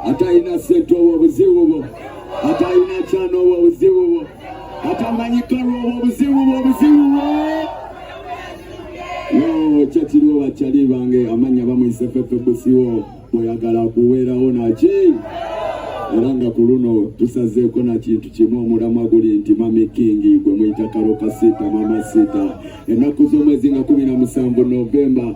atalina sente obwo obuzibu bwo atalina kyana obwo obuzibu bwo atamanyikanwa obwo obuzibu bwo obuzibu bwo kyekiriwo bakyali bange amanya bamuyisefefe busiwo bweyagala kuweerawo naki era nga ku luno tusazeeko na kintu kimu omulamwa guli nti mami kingi gwe muyita kalo kasiita mama siita ennaku z'omwezi nga kumi na musanvu novemba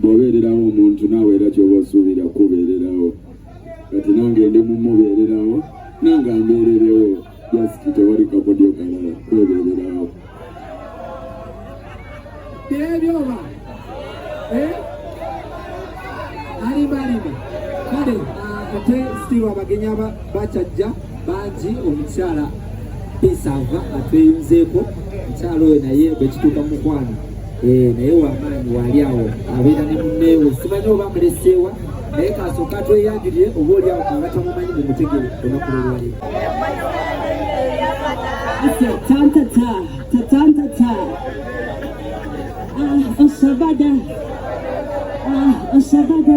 bw'obeererawo omuntu naawe era kyoba osuubira kubeererawo kati nange ndi mumubeererawo nange ambeererewo jasiti tewali kakodyo kalala kwebeererawo ebyoba eh? alimba alimba kale ah, ate sitiru abagenyi bakyajja bangi omukyala pisava atweyunzeeko mukyala oyo naye bwekituuka mukwano eh, naye wamaanyi waali awo abeera ne munneewe simanyi oba muleseewa naye kasooka tweyagirire oba oli awo abatamumanyi mu mutegere olunaku lwolwali tantata tatantata ah, osabada ah, osabada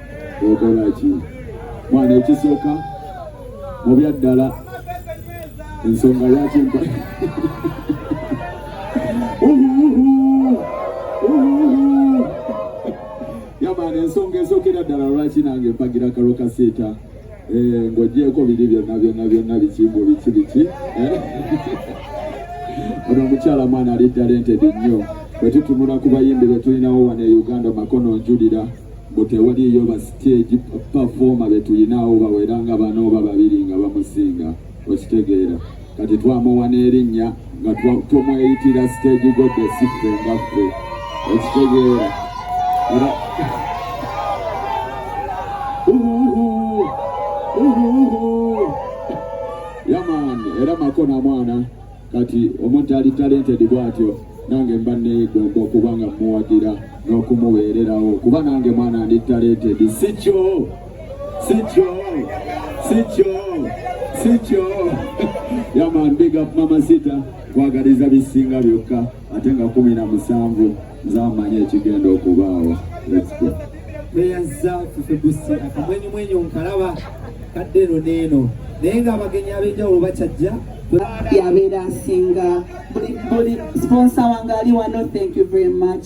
okola ki mwana ekisooka mu byaddala ensonga lwaki mpa yamaana ensonga esookera ddala lwaki nange mpagira kalo kaseeta eh, ng'ogyeko biri byonna byonna byonna biki mbu biki biki eh? ono omukyala mwana ali talentedi nnyo bwe tutunula ku bayimbi be tulinawo wano e uganda makono njulira butewaliyo ba stage performer betuyinaawo bawera nga bano oba babiri nga bamusinga okitegeera kati twamuwa n'erinnya nga tumweyitira stage godesi ffe nga ffe okitegeera era yaman era makona mwana kati omuntu ali talented bwatyo nange mba neegomba okuba nga muwagira n'okumuweererawo kuba nange mwana ndi talented sikyo sikyo sikyo sikyo yaman big up mama sita kwagaliza bisinga byokka ate nga kumi na musanvu zamanyi ekigenda okubaawo tweyazza fefebusi akamwenyumwenyu nkalaba kadde eno neeno naye nga abagenyi ab'enjawulo bakyajja yabeera asinga buli sponsa wange ali wano thank you very much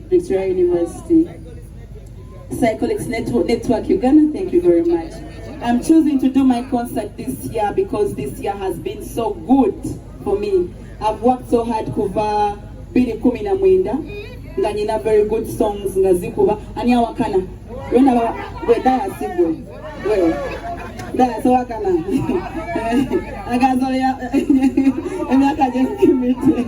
Victoria University. Psycholics Network, Network Uganda, thank you very much. I'm choosing to do my concert this year because this year has been so good for me. I've worked so hard kuva bili kumi na mwenda nga nina very good songs nga zikuba ani awakana wenda weda yasigwe sowakana akazoya emyaka gyekimite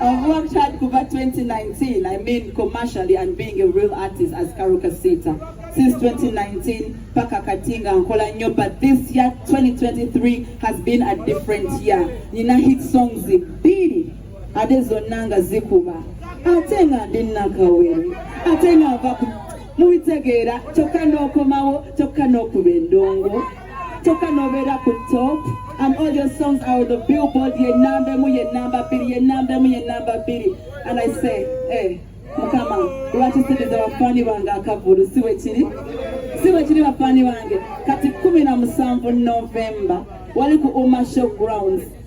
I've worked hard kuva 2019 I mean commercially and being a real artist as Karuka Sita since 2019 paka katinga nkola nyo but this year 2023 has been a different year nina hit songs bbiri ade zonna nga zikuba ate nga ndi nakawere ate nga nva mubitegeera kyokka n'okomawo kyokka n'okuba endongo kyokka n'obeera ku top and all your songs are the billboard ye namba emu ye namba bbiri ye namba emu ye namba bbiri and i say hey, eh, mukama lwaki siriza bafaani bange akavulu si bwe kiri si bwe kiri bafaani bange kati kumi na musanvu novemba wali ku umasho grounds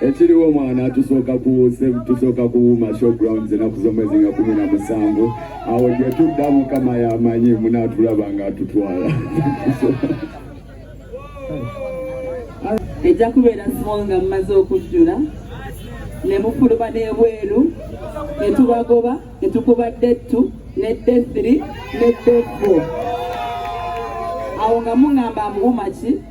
ekiriwo mwana tusooka kuwuuse tusooka kuwuuma showgrounds enaku z'omwezi nga kumi na musanvu awo gye tudda mukama yamanyi munaatulaba nga atutwala ejja kubeera small nga mumaze okujjula ne mufuluma n'ebweru ne tubagoba ne tukuba dettu ne dethri ne defo awo nga muŋamba mbuuma ki